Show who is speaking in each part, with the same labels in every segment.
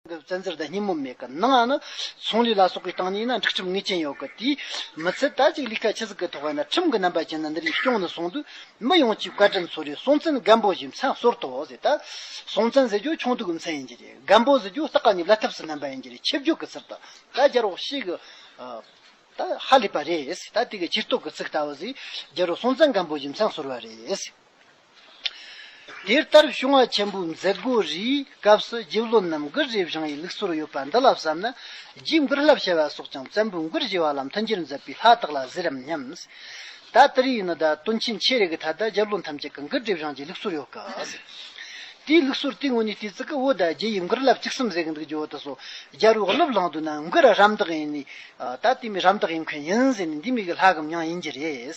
Speaker 1: གི་བཙན་འཛུལ་དང་སྙི་མོ་མེད་གི་ནང་ནི་ཚོང་ལས་ལ་སོགས་པའི་སྟངས་ནས་ཡིན་ན་འགྲིག་ཁྲིམས་ངེས་ཅན་ཡོད་གི་དེས་མི་ཚད་དར་ཅིག་ལི་ཁ་ཆི་ཟིག་གི་ཐོག་ཡིན་ན་ཁྲིམས་ཀྱི་རྣམ་པ་ཅན་ནི་འདི་རིགས་སྐྱོང་ནི་སོང་དུས་མི་ཡོངས་ཀྱིས་བཀའ་ཁྲིམས་ཚོ་རེ་སྲོང་བཙན་སྒམ་པོ་བཞིན་མཚན་གསོལ་ཐོག་ཟེར་ད་སྲོང་བཙན་ཟེར་རྒྱུ་ཆུང་དུ་གི་མཚན་ཡིན་གྱི་རེད་སྒམ་པོ་ཟེར་རྒྱུ་སྟག་ག་ནི་བླ་ཐབས་སུ་བསྣན་པ་ཡིན་གྱི་རེད་ཆིབས་བརྒྱུད་ཀྱི་ཚུལ་ད་ད་སྦྱར་བ་ཤེས་གི་ད་ཧ་ལས་པ་རེད་ད་དེ་གི་ཕྱིར་གཏོགས་ཀྱི་ཚིག་ལྟ་བུ་ཟིག་སྦྱར་རོ་སྲོང་བཙན་སྒམ་པོ་བཞིན་མཚན་གསོལ་བ་རེད། དེ་ལྟར་བྱུང་བ་ཆེན་པོའི་མཛད་སྒོ་རེའི་སྐབས་སུ་རྗེ་བློན་རྣམས་མགུར་རེ་བཞེངས་ཡིག་ལུགས་སོར་ཡོད་པ་འདི་ལ་བསམ་ན། རྗེའི་མགུར་བསླབ་བྱ་བ་སོགས་ཀྱང་བཙན་པོའི་མགུར་བཞེས་པ་ལ་མཐུན་རྐྱེན་མཛད་པའི་ལྷ་དག་ལ་ཟེར་རམ་སྙམ། ད་ལྟར་ཡིན་ནོ་ད་དུས་ཕྱིན་ཆད་རེ་གི་ད་ལྟ་རྗེ་བློན་ཐམས་ཅད་ཀྱི་མགུར་རེ་བཞེངས་ཀྱི་ལུགས་སོར་ཡོད་ཀི། དེའི་ལུགས་སོར་དེའི་ངོས་ནས་བལྟས་ཚེ་ཀི་འོ་ད་རྗེ་ཡི་མགུར་བསླབ་ཅིག་གསུམ་ཟེར་གི་འདུག་རྗེ་བོ་ད་སོ་རྒྱལ་བོའི་སློབ་ལངས་དུས་ན་མགུར་རམ་འདེགས་ཡིན་ནས། ད་དེ་མི་རམ་འདེགས་ཡིན་མཁན་ཡིན་ཟེར་ནས་འདི་མི་གི་ལྷ་གམ་མྱང་ཡིན་གྱི་རེད།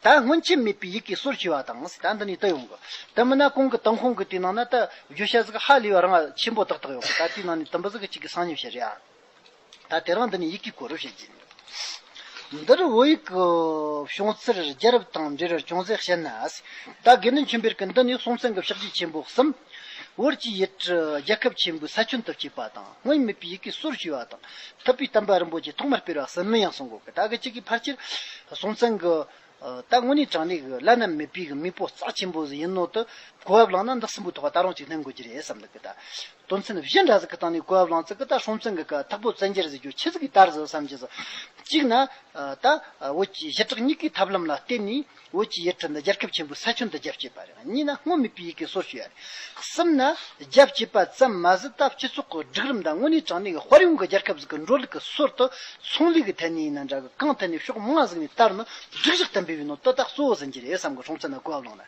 Speaker 1: ད་སྔོན་ཆད་མེད་པའི་ཡིད་ཀྱི་སོར་བྱེ་བ་དང། ད་འདི་ནས་བལྟ་ཡོང་གི། དེ་མིན་ན་གོང་གི་དང་ཁོང་གི་དེའི་ནང་ན་ད་བརྗོད་བྱ་གཟུགས་ཧ་ལས་པ་རང་ཆེན་པོ་དག་དག་ཡོང་གི་ད་དེའི་ནང་ནས་དུམ་བུ་གཟུགས་གཅིག་གི་སང་ཉིན་བྱེད་རེད་ཨ། ད་དེ་རང་འདི་ནས་ཡིད་ཀྱི་གོ་རིམ་བཤད་ཀྱི། འདིར་བོད་ཡིག་གི་བྱུང་ཚུལ་རྒྱལ་རབས་དང་འབྲེལ་བར་ཅུང་ཟད་བཤད་ན། ད་དགེ་འདུན་ཆོས་འཕེལ་གྱི་འདི་ནི་སྲོང་བཙན་གྱི་ཕྱག་རྒྱས་ཆེན་པོ་གསུམ། ཝུར་གྱིས་ཡུལ་གྲུ་རྒྱལ་ཁབ་ཆེན་པོའི་ས་ཁྱོན་དུ་བསྐྱོད་པ་དང་སྔོན་མེད་པའི་ཡི་གེ་སོར་ཞུས་པ་དང་ཐུབ་པའི་དམ་པ་རིན་པོ་ཆེ་ཐོག་མར་སྤེལ་བར་སིལ་མི་ཡང་སྲུང་འགོ་ཁ་ད་གི་གཅིག་གི་ཕར་ཆེར་སྲོང་བཙན་གྱི་ད་དངོས་གནས་དྲང་གནས་ཀྱི་བླ་ན་མེད་པའི་མི་སྤོ་རྩ་ཆེན་པོ་ཟིག་ཡིན་ནོ་དུ་གོ་བ་བླངས་ན་འདི་སྲིན་པོའི་ཐོག་ད་རུང་གཅིག་ལྷན་དགོས་ཀྱི་རེད་བསམ་ད་གི་ད་དོན་ཚན་བཞི་འདྲ་ཟིག་གི་སྟེང་ནས་གོ་བ་བླངས་ཚེ་གི་ད་སྲོང་བཙན་གྱི་ག་ཐག་པོ་བཙན་རྒྱལ་ཟེར་རྒྱུ་ཁྱི་ཟིག་གི་ལྟར་ཟིག་བསམ་གྱི་ཟིག་གཅིག་ན་ད་བོད་ཀྱི་ཞི་དྲག་གཉིས་ཀའི་ཐབས་ལམ་ལ་བརྟེན་ནས་བོད་ཀྱི་ཡིག་ཐོག་འདི་རྒྱལ་ཁབ་ཆེན་པོའི་ས་ཆུ་འདི་རྒྱབ་ཅེས་པ་རེད་གཉིས་ན་སྔོན་མེད་པའི་ཡི་གེ་སོགས་ཞུ་ཡ་རེད། གསུམ་ན། རྒྱབ་ཅེས་པ་ཙམ་མ་ཟད་སྟབས་སྤྱི་ཚོགས་ཀྱི་སྒྲིག་རིམ་དང་དངོས་གནས་དྲང་གནས་ཀྱི་དཔར་ཡོང་གི་རྒྱལ་ཁབ་ཟིག་གི་འགྲོ་ལུགས་ཀྱི་སྲོལ་དུ་ཚོང་ལས་ཀྱི་ཐད་ནས་ཡིན་ན་འདྲ་གི་གང་ཐད་ནས་ཕྱོགས་མང་ཟིག་ནས་བལྟར་ན་སྒྲིག་གཞི་ལྟ་འབུལ་བའི་ནང་དོ་བདག་གཙོ་བོ་ཟིན་གྱི་རེད་བསམ་གི་གྲོང་ཚོ་ན་གོ་བ་ལོན་ན།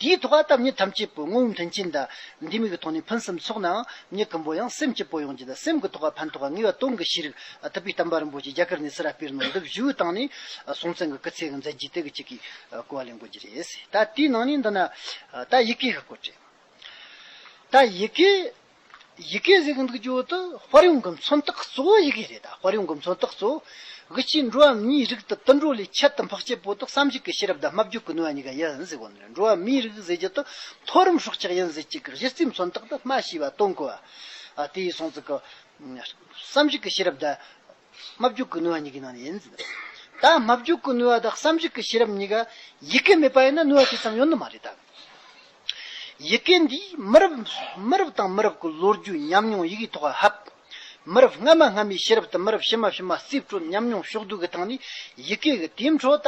Speaker 1: དེའི་ཐོག་ཨ་ཐབས་ནི་ཐམས་ཅད་པོའི་དངོས་བོའི་མཐུན་རྐྱེན་དང། འདི་མིག་གི་ཐོག་ནས་ཕུན་སུམ་ཚོགས་ནའང་མྱི་ཀུན་པོ་ཡང་སེམས་ཀྱི་པོ་ཡོངས་ཀྱི་དང་སེམས་ཀྱི་ཐོག་ལ་ཕན་ཐོགས་པ་ངེས་པ་སྟོང་གི་ཤེས་རིག་ཨ་ཐབས་པའི་གཏམ་པ་རིན་པོ་ཆེ་རྒྱ་གར་ནས་སི་ར་སྤེལ་ནོར་འདི་བཞུགས་བཏང་ནས་སྲོང་བཙན་གྱི་སྐུ་ཚེ་གི་མཛད་རྗེས་དེ་གི་གཅིག་གི་སྐོར་ལ་ལེན་དགོས་ཀྱི་རེད། ད་དེའི་ནང་ནས་འདི་ན་ད་ཡི་གེ་གི་སྐོར་བྲིས། ད་ཡི་གེ། ཡི་གེ་ཟེར་གི་འདུག་ཇོ་དུ་དཔར་ཡོང་གི་མཚོན་རྟགས་གཙོ་བོ་ཡི་གེ་རེད་ད་དཔར་ཡོང་གི་མཚོན་རྟགས་གཙོ་བོ་གི་ཕྱིར་འགྲོ་བ་མིའི་རིགས་དུ་དུད་འགྲོ་ལས་ཁྱད་དུ་འཕགས་སྐྱེས་པོ་དག་བསམ་གཞིག་གི་ཤེས་རབ་དང་སྨྲ་བརྗོད་ཀྱི་ནུས་པ་གཉིས་ཀ་ཡིན་ཟེར་དགོས་ནི་རེད་འགྲོ་བ་མིའི་རིགས་ཟེར་རྒྱུ་དུ་མཐོ་རིམ་སྲོག་ཆགས་ཡིན་ཟེར་གཅིག་གི་གཞི་རྩའི་མཚོན་རྟགས་དུ་སྨྲ་ཤེས་པ་སྟོན་དགོས་བ་དེ་ཡི་སྲོང་བཙུགས་ཀྱི་བསམ་གཞིག་གི་ཤེས་རབ་དང། སྨྲ་བརྗོད་ཀུན་ནུས་པ་གཉིས་ཀྱི་ནང་ནས་ཡིན། ད་སྨྲ་བརྗོད་ཀུན་ནུས་པ་དང་བསམ་གཞིག་གི་ཤེས་རབ་གཉིས་ཀ་ཡི་གེ་མེད་པ་ཡིན་ན་ནུས་པ་དེ་ཙམ་ཡོད་ནི་མ་རེད། ཡི་གེ་འདིས་མི་རབས་མི་རབས་དང་མི་རབས་ཀྱི་ལོ་རྒྱུས་ཉམས་མྱོང་ཡི་གེའི་ཐོག་ལ་ཧབ། མི་རབས་སྔ་མ་སྔ་མའི་ཤེས་རབ་དང་མི་རབས་ཕྱི་མ་ཕྱི་མ་རྩིས་སྤྲོད་ཉམས་མྱོང་ཕྱོགས་བསྡུས་ཀྱི་སྟངས་ནས་ཡི་གེ་གི་དེའི་འཕྲོ་ད་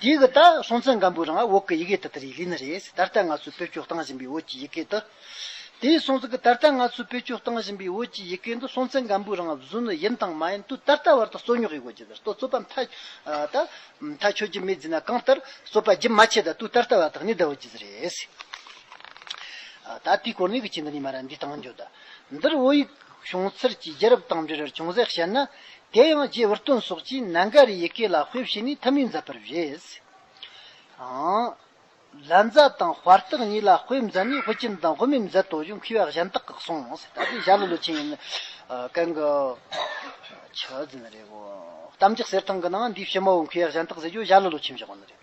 Speaker 1: འདི་གི་ད་སོང་ཚེ་འགམ་བུའི་རང་འོག་གི་ཡི་གེ་དེ་ད་རེའི་ལི་ནི་རེད་ཟེར་ད་ལྟ་ང་ཚོས་བེད་སྤྱོད་བཏང་བཞིན་པའི་འོད་ཀྱི་ཡི་གེ་འདི། དེའི་སོང་ཚེ་གི་ད་ལྟ་ང་ཚོས་བེད་སྤྱོད་བཏང་བཞིན་པའི་འོད་ཀྱི་ཡི་གེ་འདི་སོང་ཚེ་འགམ་བུའི་རང་བཟོའི་ནི་ཡིན་དང་མ་ཡིན་དུས་ད་ལྟ་བར་དུ་རྩོད་ཉོག་ཡི་གོ་རྒྱུ་དེར་ཏོ་རྩོད་པ་མཐའ། ད། མཐའ་ཆོད་རྒྱུ་མེད་རྫི་ན་གང་ལྟར་རྩོད་པ་རྒྱུན་མ་ཆད་ད་དུས་ད་ལྟ་བར་དག་ནི་ད་འོད་ཀྱི་ཟེར་རེད། ད་དེའི་སྐོར་ནི་གི་ཅི་འདི་ནི་མ་ར་འདི་དང་འགྱོ་ད། འདིར་འོད་ཡིག། བྱུང་ཚུལ་གྱི་རྒྱུད་རབས་དང་འབྲེལ་བྱུང་གསལ་བཤད་ན། དེ་ཡང་རྗེ་འུར་སྟོན་སོགས་ཀྱིས་ནཱ་ག་རའི་ཡི་གེ་ལ་དཔེ་བྱས་ནས་ཐ་མི་མཛད་པར་བཞེད། ལན་བཟའ་དང་དཔར་རྟགས་གཉིས་ལ་དཔེ་མཛད་ནས་དཔེ་སྐྱིན་དང་དཔེ་མི་མཛད་དོ་ཞེས་མཁས་པ་གཞན་དག་གིས་གསུངས། ད་ལྟའི་ཞྭ་ལུ་ལོ་ཆེན་ཡིན་ཀན་གི་ཆུ་རྫིང་རེད། གཏམ་རྒྱག་གསེར་ཐང་གི་ནང་འདིའི་ཕྱི་མོའི་མཁས་པ་གཞན་དག་ཟེར་རྒྱུ་ཞྭ་ལུ་ལོ་ཆེན་བཞག་པ་ནི་རེད།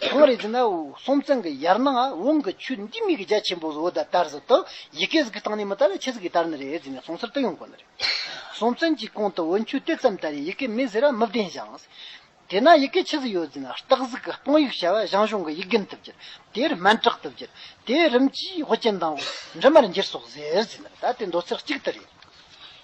Speaker 1: ཁང་རེ་ཟིན་ན་སོང་ཙང་གི་ཡར་ནང་དབང་གི་ཆུ་འདི་མིག་གི་རྒྱ་ཆེན་པོ་བཟོ་ད་དར་ཟི་ཏོ་ཡི་གེ་ཟི་གི་སྟང་ནས་མི་དར་ལ་ཆེ་ཟི་གི་དར་ནི་རེད་ཟིན་ནས་སོང་སར་ཏི་ཡོང་གོ་ནི་རེད་སོང་ཙང་གི་གོང་དུ་འོད་འཁྱུད་དེ་ཙམ་དར་ཡི་གེ་མི་ཟི་ར་མི་བདེན་ཞིང་དེ་ན་ཡི་གེ་ཆི་ཟི་ཡོད་ཟིན་ན་སྟག་ཟི་གི་སྟོང་ཡིག་བྱ་བ་བཞང་བཞོང་གི་ཡིག་གིན་ཏི་བསྒྱུར་དེ་རི་མན་དྲག་ཏི་བསྒྱུར་དེ་རིམ་གྱིས་ཧོ་ཅན་དང་འབྲི་མར་འགྱུར་སོགས་ཟེར་ཟིན་ན་ད་དེ་མདོ་ཚིག་གཅིག་ཏི་རེད།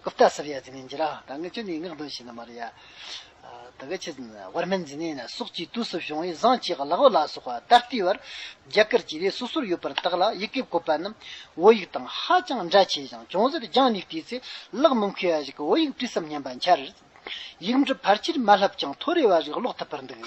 Speaker 1: རྐུབ་སྟེགས་སར་ཡ་འཛིན་མཁན་གྱི་རང་དང་ངེད་ཅག་ནི་ངག་འདོན་བྱས་ན་མ་རེད་ཡ། ད་ག་ཆེད་བར་མེད་འཛིན་ནས་ན་སྲོག་གཅིག་དུས་སུ་བྱུང་བས་བཟང་ཆེ་ག་ལ་བ་ལ་སོགས་པ་ད་ལྟའི་བར་རྒྱ་གར་གྱི་རིགས་སོ་སོར་ཡོད་པར་བརྟགས་ལ་ཡི་གེ་བཀོད་པ་རྣམས་འོ་ཡིག་དང་ཧ་ཅང་འདྲ་ཆེ་ཞིང་ཅུང་ཟད་སྦྱངས་ནས་བལྟས་ཚེ་གླགས་མི་མཁས་བ་ཞིག་གིས་འོ་ཡིག་བྲིས་སམ་སྙམ་པ་འཆར། ཡིག་འབྲི་ཕར་ཆེར་མ་ལྷབ་ཀྱང་ཐོ་རེ་བ་རིགས་ཀློག་ཐུབ་པར་འདུག།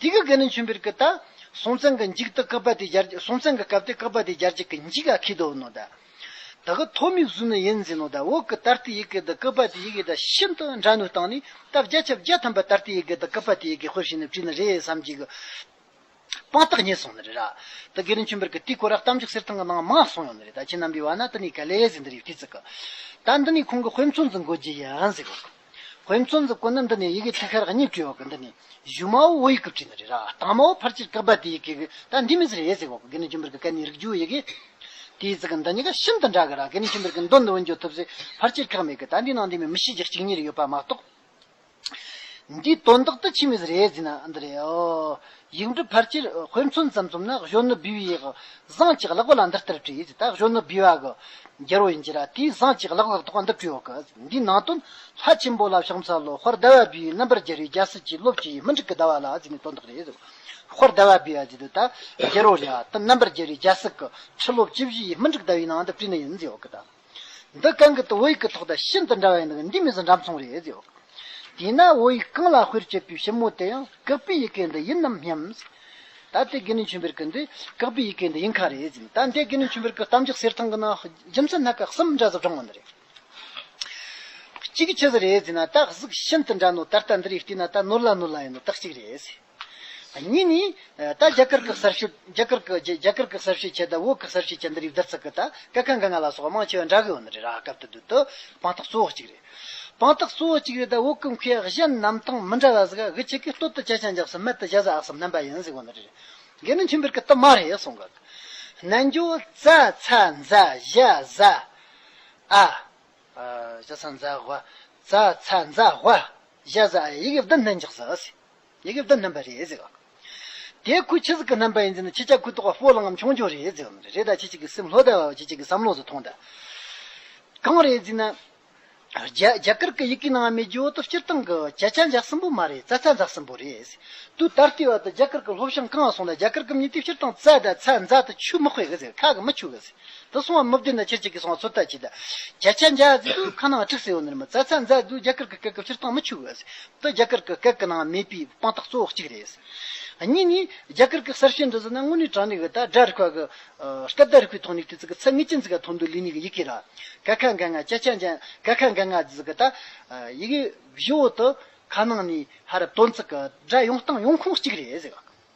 Speaker 1: དེ་གི་གི་ནི་མཆོན་པིར་ཀི་ད། སྲོང་བཙན་གི་འཇིག་ཏུ་ཀི་པ་དེ་སྦྱར་སྲོང་བཙན་གི་སྐབས་དེ་ཀི་པ་དེ་སྦྱར་གྱི་གི་འཇིག་ག་གི་དོ་ནོ་ད། ད་གི་ཐོ་མིག་ཟུ་ནི་ཡིན་ཟིན་ནོ་ད་འོ་ཀི་ད་ཏི་ཡི་གི་ད་ཀི་པ་དེ་ཡི་གི་ད་ཤིན་ཏུ་འདྲ་ནུས་བཏང་ནི་ད་བརྒྱ་ཆ་བརྒྱ་ཐམ་པ་ད་ཏི་ཡི་གི་ད་ཀི་པ་དེ་ཡི་གི་ཧོས་ཤིན་ནི་བྲིས་ནི་རེད་བསམ་གྱི་གི། དཔང་རྟགས་རྙེད་སོང་ནི་རེད་ར། ད་གི་ནི་མཆོན་པིར་ཀི་ཏི་ཀོ་ར་གཏམ་རྒྱུད་གསེར་ཐང་གི་ནང་མ་སོང་ཡོང་ནི་རེད་ད་ཁྱེད་རྣམ་པའི་བ་ན་ད་ནི་ག་ལེ་ཟི་འདི་རི་ཡོད་ཏི་ཙི་གི། ད་འདི་ནི་ཁོང་གི་དཔེ་མཚོན་ཙི་འགོད་རྒྱུ་ཡིན་ཟི་གི། བོད་མཚོ་འཛིན་སྐོར་ནི་འདི་ནས་ཡི་གེ་ཐིག་ཤར་གཉིས་བྲིས་བ་གི་འདི་ནས་གཞུ་མ་བོ་ཡི་གུ་བྲིས་ནི་རེད་ར་དང་མ་བོ་ཕར་ཕྱིར་བཀག་པ་དེ་ཡི་གེ་གི་ད་འདི་མི་ཟེར་ཡས་ཟེར་བ་གི་གི་ནི་ཅུང་པིར་གི་སྐད་ནི་རིག་འགྱུ་ཡི་གེ་དེའི་ཚིག་གི་འདི་གཉིས་ཀ་ཤིན་ཏུ་འདྲ་གི་ར་གི་ནི་ཅུང་པིར་གི་མདོ་འདི་འོན་ཀྱང་ཐུབ་ཟེར་ཕར་ཕྱིར་བཀག་མེད་གི་ད་འདི་ནང་འདི་མི་མི་ཤེས་ཀྱི་གཅིག་གཉིས་རེ་ཡོད་པ་མ་གཏོགས་འདིའི་དོན་དག་ཏུ་ཕྱིས་མི་ཟེར་ཡས་ཟིན་ན་འདི་རེད་ཨོ། ཡིག་འབྲུ་ཕར་ཆེར་དཔེ་མཚོན་ཙམ་བཙུམ་ན་གཞོན་ནུ་བི་བི་ཡི་བཟང་ཅིག་ལགས་པ་ལ་འདི་ལྟར་བྲིས་ད་གཞོན་ནུ་བི་བ་གི་རྒྱལ་པོ་ཡིན་གྱི་ར་དེའི་བཟང་ཅིག་ལགས་ལགས་ཐོག་འདི་བྲིས་ཡོད་གི་འདིའི་ནང་དོན་ལྷ་ཆེན་པོ་ལ་བྱང་ཚ་ལོ་ཧོར་ཟླ་བ་བི་བའི་རྣམ་པར་རྒྱལ་རིགས་རྒྱལ་སྲིད་ཀྱི་སློབ་ཅིག་ཡིན་མི་འགྲིག་གི་ཟླ་བ་ལ་གཟིགས་ནས་དོན་དག་རེད་ཧོར་ཟླ་བ་བི་བ་འདི་དུས་ད་རྒྱལ་པོ་རེད་ད་རྣམ་པར་རྒྱལ་རིགས་རྒྱལ་སྲིད་ཀྱི་ཁྲི་སློབ་ཅི་བཞི་ཡིན་མི་འགྲིག་ཟླ་བའི་ནང་དུ་བྲིས་ནས་ཡིན་ཟེར་ཡོད་གི་ད། འདི་གང་གི་དུ་བོ་ཡིག་གི་ཐོག་དང་ཤིན་ཏུ་འདྲ་བས་ན་འདི་མི་ཟ་འདྲ་མཚུངས་རེད་ཟེར། དེས་ན་བོ་ཡིག་གང་ལ་དཔེར་བྱས་པའི་ཞིབ་མོ་དེ་ཡང་ཀག་པའི་ཡི་གེ་འདི་ཡིན་ནམ་སྙམ། ད་དེ་དགེ་ནི་ཆུན་པེར་ཀི་འདི་ཀག་པའི་ཡི་གེ་འདི་ཡིན་ཁ་རེད་ཟེར། ད་འདི་དགེ་ནི་ཆུན་པེར་ཀི་གཏམ་རྒྱག་གསེར་ཐང་གི་ནང་རྒྱུ་མཚན་སྣ་ཁ་གསུམ་འདྲ་ཟབ་དྲང་བ་འདི་རེད། གཅིག་ཇི་ཟེར་རེད་ཟེར་ན་སྟག་གཟིག་ཤིན་ཏུ་འདྲ་ནོ་ད་ལྟ་འདི་རིགས་བལྟས་ན་ད་ནོར་ལ་ནོར་ལ་ཡིན་ནོ་སྟག་གཅིག་རེད་ཟེར། གཉིས་ནི། ད་རྒྱ་གར་གི་གསར་ཤོས་རྒྱ་གར་གི་རྒྱ་གར་གི་གསར་ཤོས་ཁྱེད་ད་བོད་གི་གསར་ཤོས་ཁྱེད་འདི་རིགས་བསྡུར་ཚག་གི་ད་སྐད་ཁ་འགའ་ང་ལ་སོགས་དམངས་ཆོས་འདྲ་གི་ཡོད་ནི་རེད་ར་སྐབས་དུ་དུ་དུ་དཔང་རྟགས་གཙོ་བོ་གཅིག་རེད་དཔང་རྟགས་གཙོ་བོ་གཅིག་རེད་ད་བོད་གི་མཁས་གཞན་རྣམས་དང་མི་འདྲ་བ་ཟིག་གི་ཁྱེད་ཀྱི་སྟོད་དུ་སྐྱ་ཆང་རྒྱབས་སུ་སྨད་དུ་བཞད་ཟ་ཨག་སུ་སྨན་པ་ཡིན་ཟིག་གོ་ནི་རེད་རྒན་ནི་མཐུན་པར་གི་དུ་མ་རེད་གསུང་གི་ནན་ཇོ་ཙ་ཚ་འཛ་བཞ་ཟ་ཨ་ཇོ་ཚ་འཛ་བྷ་ཙ་ཚ་འཛ་བྷ་བཞ་ཟ་ཨ་ཡིག་བདུན་ལྷན་ཅིག་ཟ་ཨ་སི། ཡི་གེ་བདུན་བསྣན་པ་རེད། དེའི་ཁུལ་ཕྱི་གཟུགས་ཀྱི་རྣམ་པ་ཡིན་ཟེར་ན་ཕྱི་ལྕགས་ཁུ་ཏོག་པོ་ལངས་ངམ་ཆུང་ཆུང་རེད་ཟེར་བ་མ་རེད། རེད་ད་ཁྱེད་ཅིག་གི་སེམས་ལྷོད་ད་བ་བ་ཁྱེད་ཅིག་གི་བསམ་བློ་ཟོ་ཐོང་ད། གང་རེད་ཟེར་ན། རྒྱ་གར་གྱི་ཡི་གེའི་ནང་མི་རྒྱུ་འོ་དོ་སྤྱིར་བཏང་གི་བྱ་ཆ་འཇགས་ཟིན་པོ་མ་རེད་རྩ་ཚ་འཛག་ཟིན་པོ་རེད། དུས་ད་ལྟའི་བར་དུ་རྒྱ་གར་གྱི་ལྷོ་བྱང་གང་སོང་ད་རྒྱ་གར་གྱི་མི་དེ་སྤྱིར་བཏང་རྩ་ད་ཚ་འཛག་ད་ཆུ་མི་དཔེ་གི་ཟེར་ཁ་གི་མི་ཆུ་གི་ཟེར། དུ་སོང་བ་མི་བདེན་ན་ཁྱེད་ཅིག་གིས་སོང་བ་ཚོད་ལྟ་བྱེད། བརྒྱ་ཆ་འཇའ་ཟེར་དུས་ཁ་ནང་འཁྲུགས་སེ་ཡོང་ནི་རེད་མ་རྩ་ཚ་མཛའ་དུས་རྒྱ་གར་གི་སྐད་སྐབས་སྤྱིར་བཏང་མི་འཆུག་གི། དུ་རྒྱ་གར་གི་སྐད་ཀྱི་ནང་མེད་པའི་དཔང་རྟགས་གཙོ་བོ་གཅིག་རེད། གཉིས་ནི། རྒྱ་གར་གི་གསར་བཤད་འདི་ཟེར་ན་དངོས་གནས་དྲང་ནི་གི་ད་སྒྲ་རིག་པ་གི། སྐད་བརྡ་རིག་པའི་ཐོག་ནས་དུས་ཚིགས་ཀྱི་ཚད་ངེས་ཅན་ཟེར་ག་ཐོག་འདུག་ལུས་ནི་གི་ཡི་གེ་ར། ཀ་ཁ་འགའ་ང་ཅ་ཅ་འཇའ་ཀ་ཁ་འགའ་ང་ཟེར་གི་ད། ཡི་གེ་བཞི་བོ་དུ་ཁ་ནང་ནས་ཧ་རབ་དོན་ཚིག་གི་སྒྲ་ཡོང་སྟངས་ཡོང་ཁུངས་གཅིག་རེད།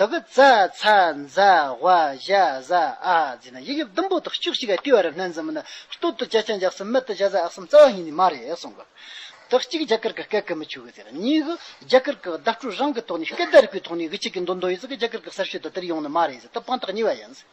Speaker 1: དག་གི་རྩ་ཚ་མཛའ་བྷ་བཞའ་བཟའ་ཨ་ཛི་ན་ཡིག་དབྱིབས་ཟླུམ་པོ་དག་བཅུ་གཅིག་ག་ཏི་བ་རི་སྣན་ཙམ་མི་ན་སྟོད་དུ་བརྒྱ་རྐྱང་བརྒྱག་གསུམ་སྨད་དུ་བརྒྱ་རྩ་ཨག་གསུམ་རྩ་བ་གཉིས་ནི་མ་རེད་གསུང་གི། དག་གཅིག་རྒྱ་གར་གི་སྐད་གི་མི་ཆོས་གི་ཟེར་གཉིས་གི་རྒྱ་གར་གི་བརྡ་སྤྲོད་རང་གི་ཐོག་ནས་སྐད་བརྡ་རིག་པའི་ཐོག་ནས་གི་གཅིག་གི་མདོ་མདོ་ཡིན་ཟེར་གི་རྒྱ་གར་གི་གསར་ཤོས་དག་དེར་ཡོང་ནི་མ་རེད་ཟེར་ད་དཔང་རྟགས་གཉིས་བ་ཡིན་ཟེར།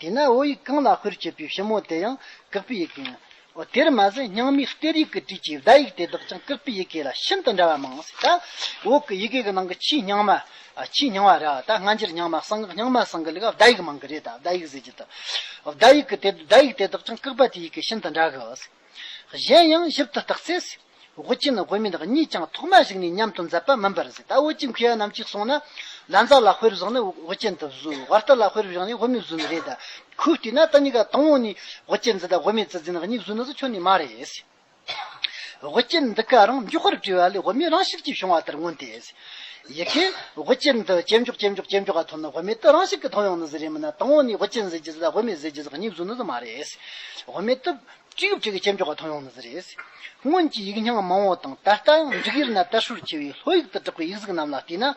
Speaker 1: དེས་ན་ཨོ་ཡིག་གང་ལ་དཔེར་བྱས་པའི་ཞིབ་མོ་དེ་ཡང་བཀག་པའི་ཡི་གེ་ཡིན། དེར་མ་ཟད་རྙིང་མའི་གཏེར་ཡིག་གི་བྲིས་ཀྱི་བརྡ་ཡིག་དེ་དག་ཀྱང་བཀག་པའི་ཡི་གེ་ལ་ཤིན་ཏུ་འདྲ་བ་མང། འོག་གི་ཡི་གེ་གི་ནང་གི་ཆེས་རྙིང་མ། ཆེས་རྙིང་བ་ར་ད་སྔ་འགྱུར་རྙིང་མ་གསང་སྔགས་རྙིང་མ་གསང་གི་ལས་ཀ་བརྡ་ཡིག་མང་གི་རེད་ད་བརྡ་ཡིག་ཟེར་གྱི་འདུག་བརྡ་ཡིག་གི་བརྡ་ཡིག་དེ་དག་ཀྱང་བཀག་པ་དེ་ཡི་གེ་ཤིན་ཏུ་འདྲ་གི། གཞན་ཡང་ཞིབ་ཏུ་བརྟགས་ཚེ། དབུ་ཅན་དབུ་མེད་གཉིས་ཀྱང་ཐོག་མ་ཞིག་ནས་མཉམ་དུ་འཛད་པ་མིན་པར་ཟད་ད་དབུ་ཅན་གུ་ཡངས་རྣམས་ཀྱིས་གསུངས་ན། ལ་མཛའ་ལ་དཔེར་བཞག་ནི་དབུ་ཅན་དུ་བཟོ་བར་ལྟ་ལ་དཔེར་བཞག་ནི་དབུ་མེད་བཟོ་ནི་རེད་ད་ཁོས་བལྟས་ན་ད་གཉིས་ཀ་དང་བོ་ནས་དབུ་ཅན་ཛི་དང་དབུ་མེད་ཛི་ཛི་ནི་གཉིས་བཟོ་ནི་ཟོ་ཆོག་ནི་མ་རེད། དབུ་ཅན་འདི་ག་རང་མགྱོགས་པོར་བྲིས་པ་ལས་དབུ་མེད་རང་ཤིག་ཅེས་བྱུང་བ་ལྟར་མངོན་ཏེ། ཡི་གེ་དབུ་ཅན་དུ་ཇེ་མགྱོགས་ཇེ་མགྱོགས་ཇེ་མགྱོགས་ཀ་ཐོབ་ན་དབུ་མེད་དུ་རང་ཤིག་གི་ཐོབ་ཡོང་ནི་ཟི་རེད་མིན་ན་དང་བོ་ནས་དབུ་ཅན་ཟི་ཀྱི་ཟི་དང་དབུ་མེད་ཟི་ཀྱི་ཟི་གཉིས་བཟོ་ནི་ཟོ་མ་རེད། དབུ་མེད་དུ། ཅི་ཡོད་ཅིག་གིས་ཅི་འཇོག་ག་མཐོང་ཡོང་ནི་ཟེར་རེད། སྔོན་གྱི་ཡིག་རྙིང་མང་བོ་དང་ད་ལྟ་ཡང་འབྲུག་ཡིག་ན་དལ་ཧྲུལ་ཆེ་བའི་ལྷོ་ཡིག་ཏུ་གྲགས་པའི་ཡིག་གཟུགས་རྣམས་ལ་བལྟས་ན།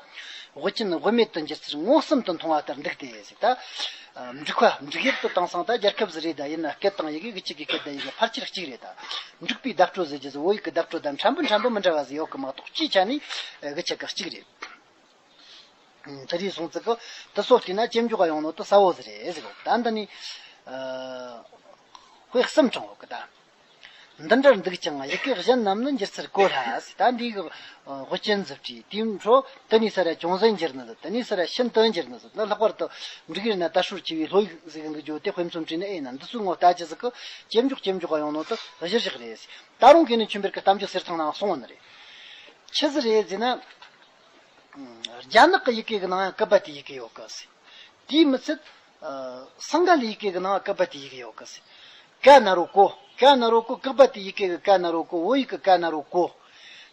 Speaker 1: དབུ་ཅན་དབུ་མེད་དུ་འགྱུར་ཚུལ་མངོན་སུམ་དུ་མཐོང་བ་ལྟར་འདུག་སྟེ། ད་འབྲུག་ཁ་འབྲུག་ཡིག་ཏུ་བཏང་སང་ད་རྒྱལ་ཁབ་བཟི་རེད་ད་ཡིན་ན་སྐད་དང་ཡི་གེ་གཅིག་གི་སྐད་དང་ཡི་གེ་ཕལ་ཆེར་གཅིག་རེད་ད། འབྲུག་པའི་གདབ་སྤྲོ་ཟེར་རྒྱུ་ཟོ་བོ་ཡིག་གི་གདབ་སྤྲོ་དང་འཕྲན་བུ་འཕྲན་བུ་མི་འདྲ་བ་ཟིག་ཡོད་གི་མ་གཏོགས་སྤྱིའི་ཆ་ནས་གི་ཆ་གི་གཅིག་རེད། ཚེ་རིང་གསུང་ཚིག་གི་དུ་སོགས་བལྟས་ན་ཅི་འཇོག་ག་ཡོང་ནོ་དུ་ས་བོ་ཟེར་རེད། ད་འདི་ནི། དཔེ་གསུམ་བྱུང་བ་ཀི་ད། འདི་འདྲར་འདུག་ཅིང་ཡི་གེ་གཞན་རྣམས་ནི་འགྱུར་ཚུལ་གོ་སླ། ད་འདི་ཡི་གེ་ཅན་རྫུ་འཕྲུལ་དེའི་འཕྲོ། དེ་ནས་ས་ར་བྱུང་ཟིན་འགྱུར་ནི་ཟིན། དེ་ནས་ས་ར་ཤིན་ཏུ་འགྱུར་ནི་ཟིན། འདི་ལྷག་པར་དུ། འབྲུག་ཡུལ་ན་དར་ཧྲུལ་ཆེ་བའི་ལྷོ་ཡིག་ཟིག་འདུག་བརྗོད་དེ་དཔེ་མཚོན་བྲིས་ནས་ཨེ་ན་འདི་ཚོའི་ངོ་ལྟ་ཅི་ཟིག་གི། ཇེ་མགྱོགས་ཇེ་མགྱོགས་ཡོང་ནོ་ཏི་གཞི་ཞིག་རེད། ད་རུང་གི་ནི་ཆུ་འབེར་གི་གཏམ་རྒྱུད་གསེར་ཐང་ནའང་སོང་བ་ནི་རེད། ཆི་ཟི་རེད་ཟེར་ན། རྒྱ་ནག་གི་ཡི་གེ་གི་ནང་ཡང་ཀི་པ་ཏི་ཡི་གེ་ཡོད་གི། དེའི་མི་ཚད། སངས་རྒྱ་ལས་ཡི་གེ་གི་ནང་ཀ་པ་ཏི་ཡི་གེ་ཡོད་ཀི་སི། ཀ་ན་རོ་ཀོ། ཀ་ན་རོ་ཀོ་ཀ་པ་ཏི་ཡི་གེ་གི་ཀ་ན་རོ་ཀོ་འོ་ཡིག་གི་ཀ་ན་རོ་ཀོ།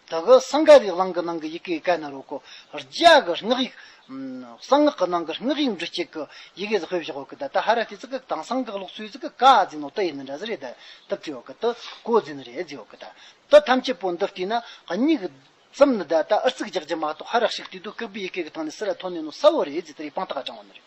Speaker 1: དེ་གི་སངས་རྒྱ་རིག་གླང་གི་ནང་གི་ཡི་གེ་གི་ཀ་ན་རོ་ཀོ། རྒྱ་གི་སྔགས་ཡིག། གསང་སྔགས་གི་ནང་གི་སྔགས་ཡིག་འབྲུ་གཅིག་གི་ཡི་གེ་ཟི་ཧོས་བཞག་ཡོད་ཀི་ད་ད་ཧ་ར་ཏི་ཙི་ཀི་དང་གསང་སྔགས་ཀློག་ཚུལ་ཙི་ཀི་ཀ་ཛི་ནོ་ཏི་ཡི་ནི་འདྲ་ཟི་རེ་ད་ཏི་བྲི་ཡོད་ཀི་ཏི་ཀོ་ཛི་ནི་རེ་ཨེ་ཛི་ཡོད་ཀི་ད་ཏི་ཐམས་ཅད་པོ་འདི་བལྟས་ན་སྙིགས་ཙམ་ནི་ད་ད་ཨུར་ཙིག་རྒྱག་རྒྱུ་མ་གཏོགས་ཧ་ར་ཞིག་བལྟས་དུས་ཀིརྦི་ཡི་གེ་གི་སྟེང་ནས་སི་ར་ཐོན་ནས་ནོ་ས་འོ་རེ་ཨེ་ཛི་ཏི་རེ་པང་ཏི་ཀ་དྲང་བ་ནི་རེད།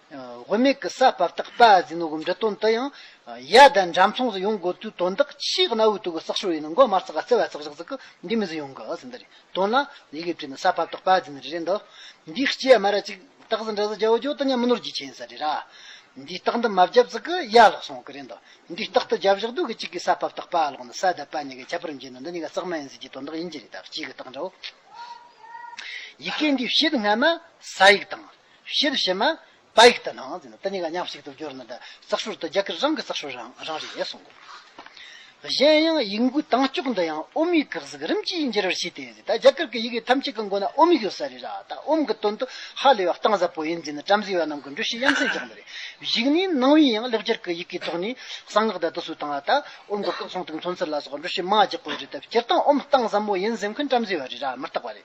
Speaker 1: དབུ་མེད་ཀྱི་ས་བབ་དག་པ་ཟིན་ནོ་སྒོམ་སྒྲ་དོན་དུ་ཡང། ཡ་ད་འགྲམ་མཚུངས་སུ་ཡོང་དགོས་དུས་དོན་དག་ཕྱིའི་གནའ་བོའི་དུག་གི་བསགས་ཤོར་ཡིན་ནོ་མགོ་དམར་ཚག་ག་རྩེ་བ་ཚག་བཞག་ཚག་གི་འདི་མི་ཟིན་ཡོང་གི་ཟིན་འདི་རེད་དོན་ལ། ཡི་གེ་བྲིས་ནས་ས་བབ་དག་པ་ཟིན་རེད་འདོད། འདིའི་སྐྱེ་དམའ་ར་ཅིག་སྟག་ཟི་འདྲ་ཟི་རྒྱ་བོ་རྒྱོ་ད་ཉམས་ནོར་གྱིས་ཆེན་ཟ་རེད་ར། འདིའི་སྟག་འདི་མ་བརྒྱབ་ཚག་གི་ཡ་ལོག་སོང་གི་རེད་འདོད། འདིའི་སྟག་ཏུ་རྒྱབ་བཞག་དུས་ཀྱི་གཅིག་གིས་ས་བབ་དག་པ་ལོག་ནས་ས་བརྡབ་པ་གཉིས་ཀས་ཁྱད་པར་འབྱེད་ནོ་འདི་གཉིས་ཀ་རྩག་མ་ཡིན་ཟིན་གྱི་དོན་དག་ཡིན་གྱི་རེད་ད་སྐྱེས་ཀྱི་སྟག་འདྲ་བོ། ཡི་གེ་འདིའི་བཤད་སྔ་མ་ས་ཡིག་དང། ཞེས་པའི་ཕྱིར་ན། བགེགས་དང་ནང་ནས་དེ་གཉིས་ཀ་མཉམ་གཅིག་ཏུ་གྱུར་ན་ཙཀ་ཧྲུར་ཏུ་རྒྱ་གར་རང་གི་ཙཀ་ཧྲུར་རང་རང་རེད་གསུང་ངོ། གཞན་ཡང་ཡིག་འགོའི་དྭངས་སྐྱུགས་འདི་ཡང་ཨོམ་ཡིག་གི་གཟུགས་རིམ་གྱིས་འགྱུར་བར་བྱེད་དེ། ད་རྒྱ་གར་གྱི་ཡི་གེ་ཐམས་ཅད་ཀྱི་མགོ་ན་ཨོམ་ཡིག་ཡོད་ས་རེད། ད་ཨོམ་གྱི་དོན་དུ་ཧ་ལས་པ་གཏིང་ཟབ་པོ་ཡིན་རྫུན་ནི་བྲམ་ཟེ་བ་རྣམས་ཀྱི་འདྲུ་ཤེས་ཡ་མཚན་རྒྱག་འདོད་རེད། གཞིག་ནས་སྣང་བའི་ཡང་ལེགས་སྦྱར་གྱི་ཡི་གེའི་ཐོག་ནས་གསང་སྔགས་དད་དུ་སུ་དང་ད་ཨོམ་གྱི་སྐུ་གསུང་ཐུགས་མཚོན་ཚུལ་ལ་སོགས་འདྲུ་ཤེས་མ་རྒྱག་དགོས་རེད་དེ་སྤྱིར་བཏང་ཨོམ་གཏིང་ཟབ་མོ་ཡིན་ཟེར་མཁན་བྲམ་ཟེ་བ་རེད་མི་རྟག་པ་རེད།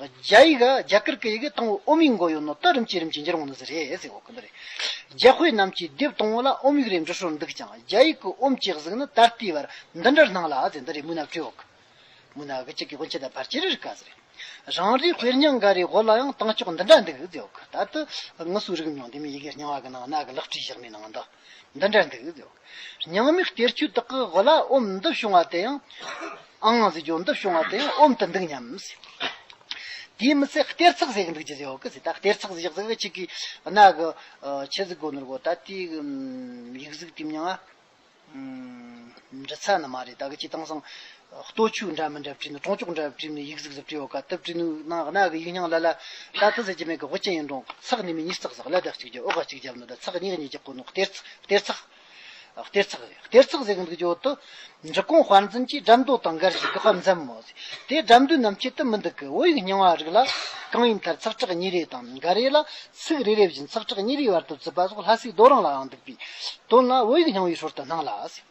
Speaker 1: རྒྱ་ཡིག་རྒྱ་གར་གྱི་ཡི་གེ་སྟོང་བའི་ཨོམ་ཡིག་འགོ་ཡོད་ནོ་ལྟ་རིམ་བྱེད་རིམ་གྱིས་འགྱུར་འོང་ནི་ཟེར་རེད་ཟེར་གོ་གི་འདུག་རེད། རྒྱ་དཔེ་རྣམས་ཀྱིས་དེབ་སྟོང་བ་ལ་ཨོམ་ཡིག་རེ་འབྲི་ཤོར་འདུག་ཀྱང་རྒྱ་ཡིག་གི་ཨོམ་གྱི་གཟུགས་ནི་ད་ལྟའི་བར་འདི་འདྲར་སྣང་ལ་ཟེར་འདི་རེ་མུན་ནག་ཁྲོད་འོག་མུན་ནག་གི་ཅིག་གི་དབུ་འཁྱིལ་དང་བར་འཁྱིལ་རེར་དཀར་ཟེར་རེད། རང་རེའི་དཔེར་ཉག་འགའ་རེའི་འོག་ལ་ཡང་སྟངས་ཕྱོགས་འདི་འདྲ་འདུག་ཟེར་གོ་ད་ལྟ་ངུ་སུ་རིག་མྱོང་དེ་མིན་ཡི་གེ་རྙིང་བ་གི་ནང་ནག་གི་ལག་བྲིས་བཞག་མའི་ནང་དུ། འདི་འདྲ་འདུག་ཟེར་བ། ཉང་མིག་གཏེར་ཆོས་དག་གི་དབུ་བླ་ཨོམ་འདུ་བྱུང་བ་དེ་ཡང། ཨང་གཟིགས་ཇོ་འདུ་བྱུང་བ་དེ་ཡང་ཨོམ་དུ་འདུག་སྙམ། དེའི་མི་ཚད་གཏེར་ཚག་ཟེར་གི་འདུག་ཅེས་ཟེར་བ་ཀི་ཟེར་ད་གཏེར་ཚག་ཟེར་ཟེར་བའི་ཆེད་ཀྱི་གནའ་གི་ཆེ་གཟིགས་སྒོ་ནོར་བོ་ད་ལྟའི་ཡིག་གཟུགས་དེ་མྱང་ང། འབྲི་ཚ་ནི་མ་རེད་ད་གི་སྤྱི་བཏང་སང་ལྟོ་ཕྱུགས་འདྲ་མི་འདྲ་བྲིས་ནི་གྲོང་ཅོག་འདྲ་བ་བྲིས་ནི་ཡིག་གཟུགས་ཟབ་བྲིས་ཡོད་ཀ་དེབ་བྲིས་ནུ་ནང་གནའ་གི་ཡིག་རྙིང་ལ་ལ་ད་ལྟ་ཟེར་གྱི་མེད་གི་ཧོ་ཅན་ཡིན་རུང་ཚགས་གཉིས་མིན་གཉིས་ཚགས་ཟེར་གླ་དག་གཅིག་བརྒྱབ་ཨོ་ག་གཅིག་བརྒྱབ་ནི་ད་ཚགས་གཉིས་གཉིས་ཀྱི་སྐོར་ནི་གཏེར་གཏེར་ཚགས་གཏེར་ཚགས་རེད་གཏེར་ཚགས་ཟེར་གི་འདུག་ཀྱི་འོག་ཏུ་འབྲི་གོང་དཔར་འཛིན་གྱིས་འགྲམ་རྡོ་དང་འགར་ཞིག་གི་དཔར་འཛིན་མོ་དེ་འགྲམ་རྡོའི་ནམ་ཁྱད་དུ་མི་འདུག་གི་འོ་ཡིག་རྙིང་བ་རིགས་ལ་གང་ཡིན་མཐར་ཚགས་ཁྲག་གཉིས་རེ་དང་འགའ་རེ་ལ་ཚིག་རེ་རེ་བཞིན་ཚགས་ཁྲག་གཉིས་རེའི་བར་དུ་བརྩི་པ་སོགས་ལྷ་སའི་རྡོ་རང་ལའང་འདུག་པའི་དོན་ལ་འོ་ཡིག་རྙིང་བའི་ཧྲོལ་དུ་སྣང་ལ།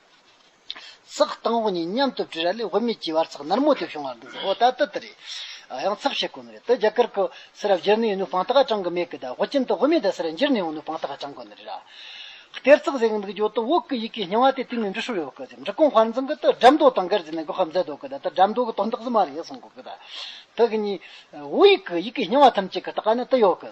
Speaker 1: ཚགས་དང་བོ་གཉིས་མཉམ་དུ་བྲིས་ར་ལས་བུད་མེད་ཀྱི་བར་ཚགས་ནར་མོ་དེ་བྱུང་བ་འདི་འདྲ་འོ་ད་ལྟ་དེ་རེད། ཡང་ཚགས་ཤེས་དགོས་ནི་རེད་དེ་རྒྱ་གར་གྱི་སེ་ར་བསྒྱུར་ནས་ཡོང་ནུས་སྤང་ཐག་བཅང་གི་མེད་གི་ད་བོད་ཁྱིམ་དུ་བུད་མེད་དེ་སེ་ར་འགྱུར་ནས་ཡོང་ནུས་སྤང་ཐག་བཅང་དགོས་ནི་རེད་ར། གཏེར་ཚགས་ཟེར་གི་འདུག་ཡོད་དོ་འོག་གི་ཡི་གེ་རྙིང་བ་དེ་སྟེང་ནས་འབྲི་ཤོར་ཡོད་གི་འབྲི་གོང་བར་འཛིན་གི་ད་སྒྲ་མདོ་དང་འགལ་ཟེར་ནས་གོ་སྐབས་མཛད་འདུག་གི་ད་ད་སྒྲ་མདོ་གི་དོན་དག་ཟིན་མ་རེད་གསུང་གི་ད་ད་གི་ནི་འོག་ཡི་གི་ཡི་གེ་རྙིང་བ་ཐམས་ཅད་གི་ད་ག་ནས་ད་ཡོད་གི།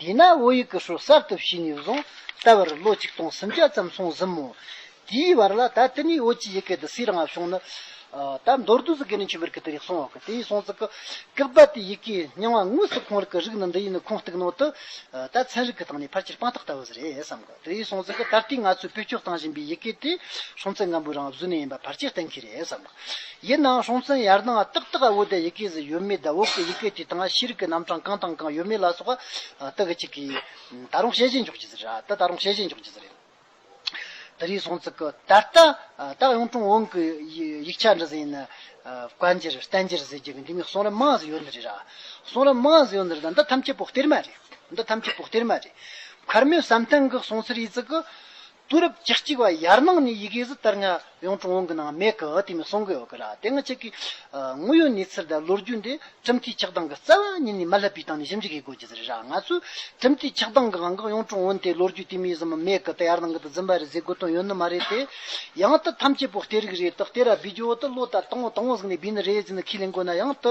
Speaker 1: དེས་ན་བོད་ཡིག་གི་ཧྲོལ་གསར་དུ་ཕྱིན་ནས་བཟུང་ད་བར་ལོ་གཅིག་སྟོང་སུམ་བརྒྱ་ཙམ་སོང་ཟིན་མོད། དེའི་བར་ལ་ད་དེ་ནས་བོད་ཀྱི་ཡི་གེ་འདི་སུས་རང་བབས་བྱུང་ནི། ད་མདོར་བསྡུས་སུ་དགེ་ལེགས་ཆོས་འཕེལ་གྱིས་དེ་རིགས་གསུང་བ་གི་དེའི་གསུང་ཚིག་གི་སྐད་བརྡ་དེའི་ཡི་གེའི་སྙིང་བ་དངོས་སུ་ཁོང་རིགས་ཀྱི་རིགས་ནི་འདི་ཡིན་ནི་ཁུངས་གཏུགས་ནོ་དི། ད་ཚན་རིག་གི་སྟེང་ནས་ཕལ་ཆེར་དཔང་རྟགས་ལྟ་བུ་ཟེར་ཡས་བསམ། རེའི་གསུང་ཚིག་གི་ད་ལྟའི་ང་ཚོས་བོད་སྐྱོར་བཏང་བཞིན་པའི་ཡི་གེ་དེ་སྲོང་བཙན་སྒམ་པོའི་རང་བཟོ་ནས་ཡིན་པ་བར་ཆད་བསྟན་གྱི་རེད་བསམ་པ། ཡིན་ནའང་སྲོང་བཙན་ཡར་སྣང་བ་ཏག་ཏག་འུ་དེ་ཡི་གེ་ཟིག་ཡོད་མེད་དང་འུ་གི་ཡི་གེ་དེ་དང་ཤེས་རིག་གི་རྣམ་གྲངས་གང་དང་གང་ཡོད་མེད་ལ་སོགས་པ་ལྟ་གི་ཅིག་གི། ད་རུང་བཤད་བཞིན་འཇོག་གི་རེད་ད་ད་རུང་བཤད་བཞིན་འཇོག་གི་རེད། དེ་རེའི་གསུང་ཚིག་གི་ད་ལྟ་ད་གཡུང་དྲུང་བོན་གྱི་ཡིག་ཆ་འདི་ཟིག་ཡིན་ན། བཀའ་འགྱུར་བསྟན་འགྱུར་ཟེར་གྱི་གི་འདི་གཉིས་གསུང་རབ་མང་ཟིག་ཡོད་འདི་རེད་ར། གསུང་རབ་མང་ཟིག་ཡོད་འདི་རེད་ད་འདི་ཐམས་ཅད་པོ་གཏེར་མ་རེད། འདི་ཐམས་ཅད་དོག་སྟེར་མ་རེད། མཁར་མོའི་བསམ་གཏན་གྱི་གསུང་ཚིག་རིས་ཀྱི་དུས་རབས་བཅུ་གཅིག་པ་ཡར་ནང་ནས་ཡི་གེ་གཟི་ལྟར་ངང་ཡང་ཀྲུང་དབྱང་གི་ནང་མེད་ཀི་དེ་མི་གསུང་གི་ཡོད་ཀི་ར་དེ་སྔ་ཆད་ཀྱི་དངོས་ཡོད་གནས་ཚུལ་དང་ལོ་རྒྱུས་འདི་ཁྲིམས་མཐུན་ཆགས་སྡང་གི་རྩ་བ་ཉིད་ནས་མ་བསླབ་པའི་སྟེང་ནས་ཞིབ་འཇུག་གིས་གོ་རྒྱུ་རེད་ར་ང་ཚོས་ཁྲིམས་མཐུན་ཆགས་སྡང་གི་དབང་གིས་ཡང་ཀྲུང་དབྱང་དེ་ལོ་རྒྱུས་དུས་མིན་གཟིམ་མ་མེད་ཀི་དེ་ཡར་ནང་གི་དུ་འཛིན་པ་རེད་ཟེར་དགོས་དོན་ཡོད་ནི་མ་རེད་དེ། ཡང་དུ་ཐམས་ཅད་དོག་སྟེར་གི་རེད་དོག་སྟེར་ར་བུའི་ཇོ་བོ་དུ་བློ་དང་དང་བོ་དང་བོ་ཟིག་ནས་བིས་ནི་རེད་ཟིག་ནི་ཁས་ལེན་དགོས་ན་ཡང་དུ།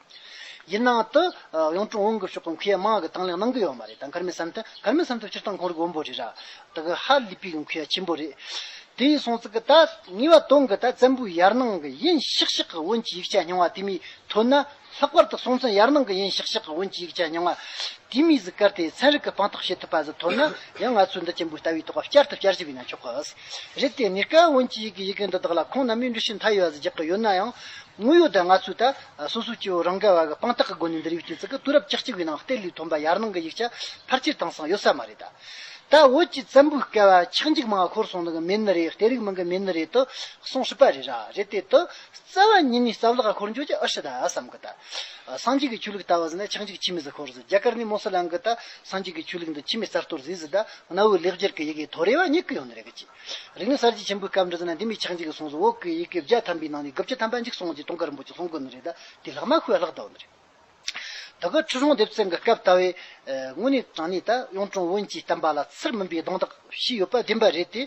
Speaker 1: ཡིན་ནའང། ད་ཡང་ཀྲུང་ཨུ་འགུལ་སྐྱོད་ཁང་ཁུལ་ཡར་མར་གྱི་དང་ལེན་གནང་གི་ཡོད་མ་རེད་ད་གར་མེད་བསམ་ཐེངས་གར་མེད་བསམ་ཐེངས་སྤྱིར་བཏང་གོང་རིག་དབོན་པོ་རེད་ར། ད་གི་ཧ་ལི་པི་གི་ཁུལ་ཡ་ཆེན་པོ་རེད། དེ་ཡིན་སོང་ཙི་གི་ད་ངེས་པ་དོན་གི་ད་བཙན་པོའི་ཡར་ནང་གི་ཡིན་ཤག་ཤག་གི་བོན་གྱི་ཡིག་ཆ་རྙིང་བ་དེ་མིས་ཐོན་ན། ལྷག་པར་ད་སོང་ཙི་ཡར་ནང་གི་ཡིན་ཤག་ཤག་གི་བོན་གྱི་ཡིག་ཆ་རྙིང་བ། དེ་མིས་ཟི་ཀར་ཏེ་ཚན་རིག་གི་དཔང་རྟགས་བྱེད་ཐུབ་པ་ཟི་ཐོན་ན། ཡང་ང་ཚོའི་འདི་ཆེན་པོའི་ལྟ་བའི་ཐོག་ཁ་བསྐྱར་དུ་བསྐྱར་ཞིབ་ཡིན་ན་ཆོག་གི། རེད་དེ། ངེས་ཀ་བོན་གྱི་ཡིག་གི་ཡི་གེ་འདི་དག་ལ་ཁོང་རྣམས་མིའི་འགྲུལ་བཞུད་མཐའ་ཡས་བ་ཟི་རྒྱག་གི་ཡོད་ན་ཡང། དངོས་ཡོད་ད་ང་ཚོའི་ད་སོ་སོའི་སྐྱེ་བོ་རང་ག་བ་གི་དཔང་རྟགས་ཀྱི་སྒོ་ནས་འདིར་ཡོད་ཀྱི་ཙི་གུ་དུས་རབས་བཅུ་གཅིག་པའི་ནང་ལྟེ་ལུའི་ཐོན་པ་ཡར་ནང་གི་ཡིག་ཆ་ཕར་ཆེར་དྭངས་སང་ཡོད་ས་མ་རེད་ད། ད་བོད་ཀྱི་བཙན་པོའི་སྐལ་བ་ཆག་འཇིག་མང་བ་འཁོར་སོང་ནི་གི་མེད་ནི་རེད་ལྟེ་རིགས་མིན་གི་མེད་ནི་རེད་དུ་གསུང་སྲིད་པ་རེད་ར་རེད་དེ་དུ་རྩ་བ་ཉིད་ནས་རྩ་བརླག་ག་འཁོར་འགྱོ་ཀྱི་ཨུ་ཤི་ད་བསམ་གི་ད། སངས་རྒྱས་ཀྱི་ཆོས་ལུགས་ལྟ་བ་ཟི་ནས་ཆག་འཇིག་ཕྱི་མི་ཟི་འཁོར་ཟི་རྒྱ་གར་ནས་མོ་སི་ལང་གི་ད་སངས་རྒྱས་ཀྱི་ཆོས་ལུགས་འདི་ཕྱི་མི་རྩ་གཏོར་ཟིས་ཟི་ད་གནའ་བོའི་ལེགས་སྦྱར་གི་ཡི་གེ་དོ་རེ་བ་རྙེད་གི་ཡོད་ནི་རེད་གི་ཅི། རིག་ནི་གསར་བརྗེ་ཆེན་པོའི་སྐབས་འགྲོ་ཟེར་ན་འདི་མི་ཆགས་འཇིག་གི་གསུངས་སོ་འོ་ཀི་ཡི་གེ་བརྒྱ་ཐམ་པའི་ནང་ནས་དགུ་བརྒྱ་ཐམ་པ་འཇིག་སོང་ཅེས་ཏོང་ཀ་རིན་པོ་ཆེ་གསུངས་དགོས་ནི་རེད་ད་དེ་ལྷག་མ་ཁོའི་ལྷག་ད་འོ་ནི་རེད། ད་ཁོའི་ཁྲི་སྲོང་ལྡེབ་རྩེ་འགའ་སྐབས་ལྟ་བའི། དངོས་གནས་དྲང་གནས་ད་གཡུང་དྲུང་བོན་གྱི་བསྟན་པ་ལ་ཚུར་མིན་པའི་གདོང་དག་ཞིག་ཡོད་པ་བདེན་པ་རེད་དེ།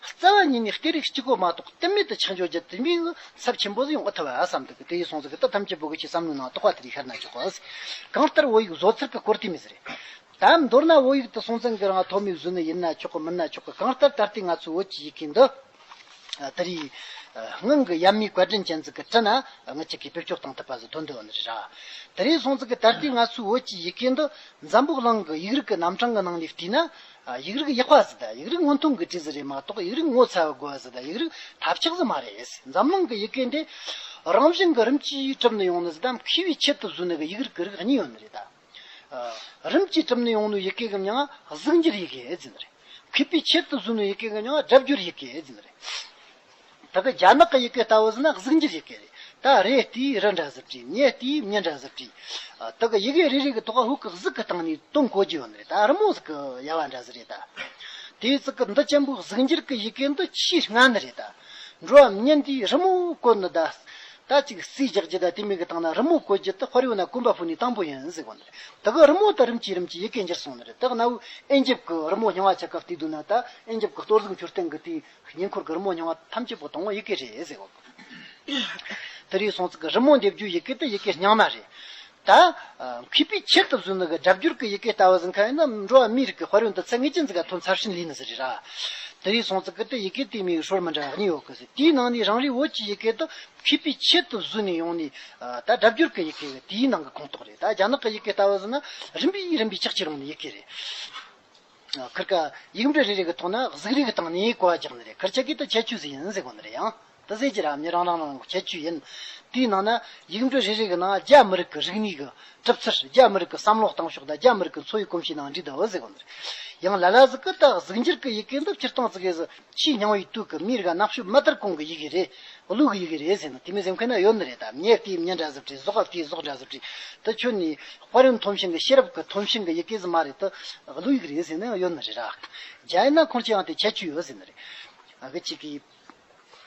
Speaker 1: རྩ་བ་ཉིད་ནས་སྐད་རིགས་གཅིག་གོ་མ་གཏོགས་གཏན་མེད་དུ་ཆགས་འཇོག་བརྒྱ་དུས་མིང་ཚབ་ཆེན་པོ་ཟིག་ཡང་ཨོ་ཐ་བ་ཨ་བསམ་འདུག་གི་དེ་ཡི་གསུངས་ཟིག་གི་ད་ཐམས་ཅད་བོད་གོས་ཀྱི་བསམ་བློའི་ནང་གཏོགས་པ་དེ་ལས་ཤར་ན་ཆོག་གོ། གང་ལྟར་བོད་ཡིག་བཟོ་ཚུལ་གྱི་སྐོར་དེ་མི་ཟེར། དེ་མདོར་ན་བོད་ཡིག་ཏུ་སྲོང་བཙན་གྱི་རང་ཐོག་མའི་གཟུགས་ནི་ཡིན་ན་ཆོག་གི་མིན་ན་ཆོག་གི་གང་ལྟར་ད་ལྟའི་ང་ཚོའི་བོད་ཀྱི་ཡི་གེ་འདི། ད་རེས་སྔོན་གྱི་ཡབ་མེས་བཀའ་དྲིན་ཅན་ཚུལ་གྱིས་བྲིས་ན་ངེད་ཅིག་གིས་བེད་སྤྱོད་གཏོང་ཐུབ་པ་ཟིན་དོན་དུ་འདི་རེད། དེ་རེས་སྲོང་བཙན་གྱིས་ད་ལྟའི་ང་ཚོའི་བོད་ཀྱི་ཡི་གེ་འདི་འཛམ་བུ་གླིང་གི་ཡིག་རིགས་ཀྱི་རྣམ་གྲངས་ཀྱི་ནང་ནས་བྲིས་ན། ཡིག་རིགས་ཡག་པ་ཟིན་ཡིག་རིགས་སྔོན་ཐོན་གྱི་བྲིས་ཟིན་རེད་མ་གཏོགས་ཡིག་རིགས་ངོ་ཚ་བའི་དགོས་ཟིན་ཡིག་རིགས་ཐབས་ཆག་ཟིན་མ་རེད། འཛམ་གླིང་གི་ཡི་གེ་འདི་རང་བཞིན་གྱི་རིམ་གྱིས་གྲུབ་ནས་ཡོང་ནི་ཟིན་ད་མཁས་པའི་ཆེད་དུ་བཟོས་ནས་གི་ཡིག་རིགས་ཀྱི་རིགས་གཉིས་ཡོད་ནི་རེད། རིམ་གྱིས་གྲུབ་ནས་ཡོང་ནུས་ཡི་གེ་གམ་ཡང་ན་གཟུགས་འགྱུར་ཡི་གེ་ཟེར་ནི་རེད། གུས་པའི་ཕྱིར་དུ་གཟུགས་ནུས་ཡི་གེ་གམ་ཡང་ན་སྒྲ་བསྒྱུར་ཡི་གེ་ཟེར་ནི་རེད། ད་གི་རྒྱ་ནག་གི་ཡི་གེ་ལྟ་བུ་ཟེར་ན་གཟུགས་འགྱུར་ཡི་གེ་རེད། ད་རེ་ལྟའི་རི་འདྲ་ཟེར་གྱི་མྱེ་ལྟའི་མྱི་འདྲ་ཟེར་གྱི། ད་གི་ཡི་གེ་རེ་རེ་གི་ཐོག་ཧུ་ཀི་གཟུགས་ཀྱི་སྟེང་ནས་དོན་གོ་རྒྱུ་ཡོད་ནི་རེད་ད་རི་མོ་ཟེར་གི་ཡལ་བ་འདྲ་ཟེར་རེད་ད། དེའི་ཚིག་གི་འདི་ཆེན་པོའི་གཟུགས་འགྱུར་གྱི་ཡི་གེ་འདི་ཆེས་སྔ་ནི་རེད་ད། འགྲོ་བ་མྱེ་འདིའི་རི་མོ་བཀོད་ནི་ད། ད་ཅིག་རྩིས་རྒྱག་རྒྱུ་དང་དེ་མིག་གི་སྟེང་ན་རི་མོ་བཀོད་རྒྱུ་དེ་ཕར་ཡོང་ན་དཀོན་པ་ཕུག་ནི་དང་པོ་ཡིན་ཟེར་གོ་ནི་རེད་ད་གི་རི་མོ་དང་རིམ་གྱིས་རིམ་གྱིས་ཡི་གེ་འགྱུར་སོང་ནི་རེད་ད་གནའ་བོའི་ཨེན་ཇིབ་གི་རི་མོ་རྙིང་བ་ཆ་སྐབས་དེ་དུས་ན་ད་ཨེན་ཇིབ་གི་གཏོར་གཟུགས་འཁྱུར་སྟེང་གི་དེའི་ཉེ་འཁོར་གི་རི་མོ་རྙིང་བ་ཐམས་ཅད་པོ་དང་བོ་ཡི་གེ་རེད་ཟེར་གོ། དེ་རིང་སོང་ཚིག་གི་རི་མོ་འདེབས་རྒྱུའི་ཡི་གེ་དེ་ཡི་གེ་རྙིང་མ་རེད། ད་གུས་པས་ཁྱེར་ཐུབ་ཟུར་ནུ་གི་སྒྲ་བསྒྱུར་གི་ཡི་གེ་ལྟ་བུ་ཟིན་ཁ་ཡིན་ན་འགྲོ་བ་མིའི་རིགས་ཀྱི་དཔར་ཡོན་དུ་ཚད་ངེས་ཅན་འཛིན་ག་ཐུན་ཚར་ཤིན་ལིན་ཟེར་རེད་ར། དེ་རིང་སོང་ཚེ་གི་དེ་ཡི་གེ་དེའི་མིང་ཧྲོར་མི་འདྲ་བ་གཉིས་ཡོད་གི་སྲིད་དེའི་ནང་ནས་རང་རེའི་བོད་ཀྱི་ཡི་གེ་དུ་གུས་པས་ཁྱེར་ཐུབ་ཟུར་ནས་ཡོང་ནས་ད་སྒྲ་བསྒྱུར་གི་ཡི་གེ་ཡོད་དེའི་ནང་གི་ཁོངས་གཏོགས་རེད་ད་རྒྱ་ནག་གི་ཡི་གེ་ལྟ་བུ་ཟིན་ན་རིམ་པས་རིམ་པས་ཆགས་ཆེ་རུང་བའི་ཡི་གེ་རེད། ཁིར་ཀ། ཡིག་འབྲུ་རེ་རེ་གི་ཐོག་ན་གཟུགས་རིས་ཀྱི་དང་ནིའི་གོ་བ་རྒྱག་ནི་རེད་ཁིར་ཆ་ཀི་ཏི་ཁྱད་ཆོས་ཟིག་ཡིན་ཟེར་གོ་ནི་རེད་ཡང་ཏི་ཟེར་གྱི་ར་མྱི་རང་རང་ནང་གི་ཁྱད་ཆོས་ཡིན། དེའི་ནང་ན་ཡིག་འབྲུ་རེ་རེ་གི་ནང་རྒྱ་མི་རིགས་ཀྱི་རིག་གནས་ཀྱི་གྲུབ་ཚུལ་རྒྱ་མི་རིགས་ཀྱི་བསམ་བློ་གཏང་ཕྱོགས་དང་རྒྱ་མི་རིགས་ཀྱི་འཚོ་བའི་གོམས་གཤིས་ནང་འདྲིས་དུ་འོད་ཟེར་གོ་ནི་རེད། ཡང་ལ་ལ་ཟི་ཀི་ཏག་གཟུགས་འགྱུར་གྱི་ཡི་གེ་འདི་སྤྱིར་བཏང་ཙི་གེ་ཟི་ཕྱིའི་སྙིང་བོ་ཡིག་དུག་གི་མིག་རིག་གནག་ཤུབ་མ་ལྟར་ཀུན་གྱི་ཡི་གེ་རེད། ཀླུ་གི་ཡི་གེ་རེད་ཟེར་ན་དེ་མི་སེམས་ཁོ་ན་ཡོད་ནི་རེད་དམ་ཉེར་ལྟའི་ཉེར་འདྲ་གཟུགས་བྲིས་གཟོག་བྲིས་གཟོག་འདྲ་གཟུགས་བྲིས་ད་ཁྱོད་ནི་དཔའ་རིན་འཐོམ་ཤིང་གི་ཤེས་རབ་ཀྱི་འཐོམ་ཤིང་གི་ཡི་གེ་ཟི་མ་རེད་དོ། ཀླུ་ཡི་གེ་རེད་ཟེར་ན་ཡང་ཡོད་ནི་རེད། རྒྱ་ཡིན་ན་ཁོང་ཅི་ཡང་དེ་ཁྱད་ཆོས་ཡོད་ཟེར་ནི་རེད། ཨ་ཅེ་ཀི།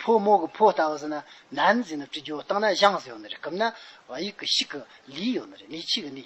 Speaker 1: ཕོ་མོ་གི་ཕོ་ལྟ་བུ་ཟེར་ན་ནན་ཟེར་ནི་བྲི་རྒྱུ་བཏང་ན་བཞང་ཟེར་ཡོད་ནི་རེད་སྐབས་ན་བ་ཡིག་གི་ཤིག་གི་ལི་ཡོད་ནི་རེད་ནི་ཕྱིས་གི་ནི།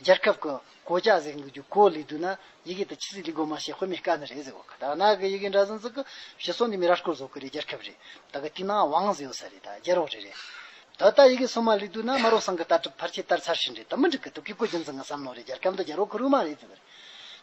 Speaker 1: རྒྱལ་ཁབ་ཀྱི་གོ་བཅའ་གཟིགས་འདུག་རྒྱུ་གོ་ལས་དུས་ན་ཡི་གེ་དང་ཆི་ཟིག་ལི་གོ་མ་ཞེས་དཔེ་མེད་དཀའ་ནི་རེད་ཟེར་བ་ཁ་དར་ནག་གི་ཡི་གེ་འདྲ་ཟིན་ཟིག་གི་ཞེས་སོང་འདི་མི་ར་སྐོར་བཟོ་གི་རེད་རྒྱལ་ཁབ་རེད་ད་གི་དུས་ན་བང་ཟི་ཡོད་ས་རེད་ད་རྒྱལ་རོགས་རེད་རེད་ད་ད་ཡི་གེ་སོ་མ་ལི་དུས་ན་མ་རོ་སང་གི་ལྟ་གྲུབ་ཕར་ཆེ་ལྟར་ཚར་ཞིན་རེད་ད་མི་འགྲིག་གི་དུ་གི་གོ་རྒྱུ་མཚན་གི་བསམ་མནོ་རེད་རྒྱལ་ཁབ་འདི་རྒྱལ་རོགས་ཁུ་རུ་མ་རེད་ཟེར་བ་རེད